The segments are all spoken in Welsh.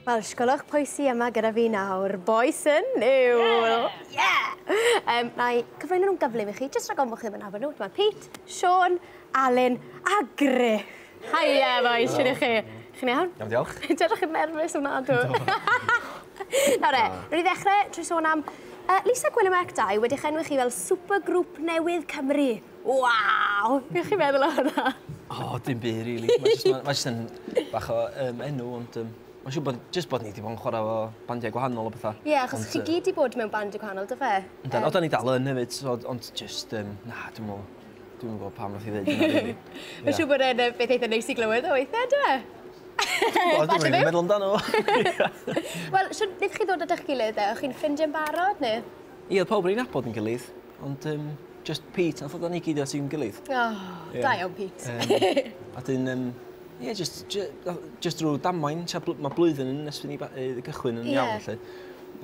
Wel, sgolwch pwy sy yma gyda fi nawr. Bois yn Niwl! Yeah! yeah! Um, na i cyflwyno nhw'n gyflym i chi, jyst rhag ofn bod chi ddim yn nabod nhw. Dyma Pete, Sean, Alun a Griff. Haia, bois, sy'n i chi? Chi'n iawn? Iawn, diolch. Dyna chi'n nerfus yma, dwi. Nawr e, rwy'n i ddechrau trwy sôn am uh, Lisa Gwyn y Merc 2 wedi'ch enwi chi fel supergrŵp newydd Cymru. Waw! Be' chi meddwl o hwnna? O dim by' rili. Mae jyst ma' mae jyst yn bach o yym enw ond yym ma'n siŵr bod jyst bod ni 'di bod yn chwara' efo bandiau gwahanol a petha. Ie achos chi gyd 'di bod mewn bandiau gwahanol do fe? Yndw o 'dan ni dal yn efyd so d- ond jyst yym na dwi me'wl dwi'm yn gw'o' pam nath 'i ddeud hynna rili. Ma'n siŵr bod e'n yy beth eitha neis i glywed o weithie on'd yw e? Wel dwi'm rili meddwl amdano fo. Wel shwd nethon chi ddod at 'ych gilydd de? O'ch chi'n ffrindie yn barod ne'? Ie odd pawb o'n i'n nabod yn gilydd. Ond um, just Pete, nath o ni gyd at i'n gilydd. Oh, yeah. da iawn Pete. Um, a dyn, um, yeah, just, just, just drwy damwain, mae blwyddyn yn nes fynd i gychwyn yn yeah. iawn, lle.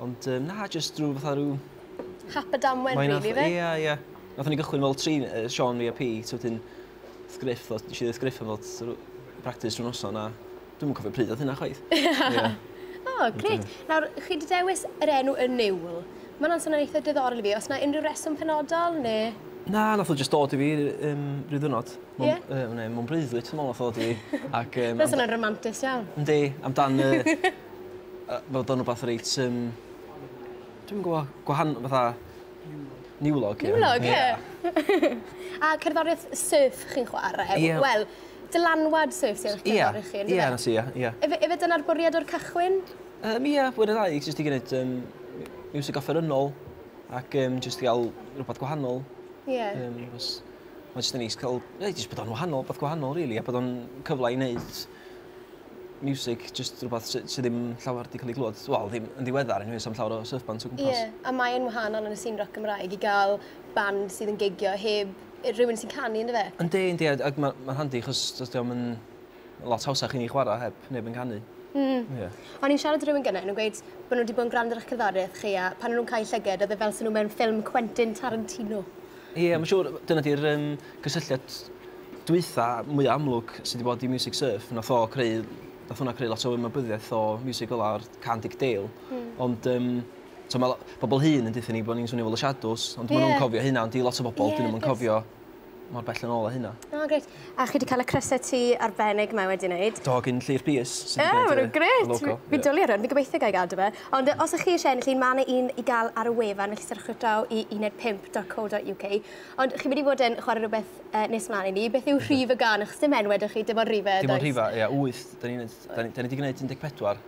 Ond um, na, just drwy fatha rhyw... Hap y damwain, really, fe? Ie, yeah, ie. Yeah. Nath ni gychwyn fel tri, uh, Sean, fi a Pete, wedyn, Griff, nes i ddweud Griff yn fod practis rhywun noson, a Dwi'm yn cofio pryd oedd hynna chwaith. Ie. O, grêt. Nawr, chi 'di dewis yr enw Y Niwl. Ma' hwnna'n swnio'n eitha diddorol i fi. Oes 'na unrhyw reswm penodol, ne'...? Na, nath o jyst dod i fi r- yym ryw ddiwrnod. Mwn- Ie? Yy wn i, mewn breuddwyd dwi me'wl nath o ddod i fi ac yym... Ma'n swnio'n ramantus iawn. Yndi, amdan y yy fod o'n wbath reit yym dwi'm yn gwbo, gwahan- fatha niwlog ie? Niwlog ie. Ie. A cerddorieth surf chi'n chware? Ie. Wel, dylanwad syrth yw'ch cyngor i chi, yndyfe? Ie, ie, ie, ie. Efe, efe dyna'r bwriad o'r cychwyn? Um, ie, fwy'r ddau, jyst i gwneud um, music offerynnol ac um, jyst i gael rhywbeth gwahanol. Ie. Yeah. Um, was, mae jyst yn neis cael, ie, jyst bod o'n wahanol, beth gwahanol, really, a bod o'n cyfle i wneud music, jyst rhywbeth sydd sy ddim llawer wedi cael ei glwyd. Wel, ddim yn ddiweddar, yn hwys am llawer o surfband o gwmpas. Ie, yeah. a mae'n wahanol yn y sîn rock Gymraeg i gael band sydd yn gigio heb rhywun sy'n canu ynddo fe. Yndi yndi a ag ma' ma'n handi achos do's dio'm yn lot hawsach i ni chwara heb neb yn canu. Hmm. Ie. O'n i'n siarad i rywun gynne o'n nw'n gweud bo' n'w 'di bod yn grando ar 'ych cerddorieth chi a pan o' nw'n cau llyged odd e fel se n'w mewn ffilm Quentin Tarantino. Ie ma' siŵr dyna 'di'r yym cysylltiad dwutha mwya amlwg sy 'di bod i Music Surf nath o creu nath wnna creu lot o ymwybyddiaeth o miwsig fel 'a a'r cân Dic Dale. Hmm. Ond yym So mae pobl hŷn yn dweud ni bod ni'n swnio fel y Shadows, ond maen nhw'n cofio hynna, ond di lot o bobl, dyn nhw'n cofio mor bell yn ôl o hynna. O, oh, gret. A chi wedi cael y crysau ti arbennig mae wedi wneud? Do, gyn Llyr Pius. Ie, yeah, maen nhw'n gret. Fi, fi dwlu ar hwn, fi gobeithio gael gadw fe. Ond os ych chi eisiau ennill un, mae yna un i gael ar y wefan, felly syrchwch draw i uned5.co.uk. Ond chi'n mynd i fod yn chwarae rhywbeth uh, nes mlaen i ni. Beth yw rhif y gan? Achos dim enwed ych chi, dim ond rhifau. Dim ond rhifau, ie, 8. Da ni, da ni, da ni wedi gwneud 14.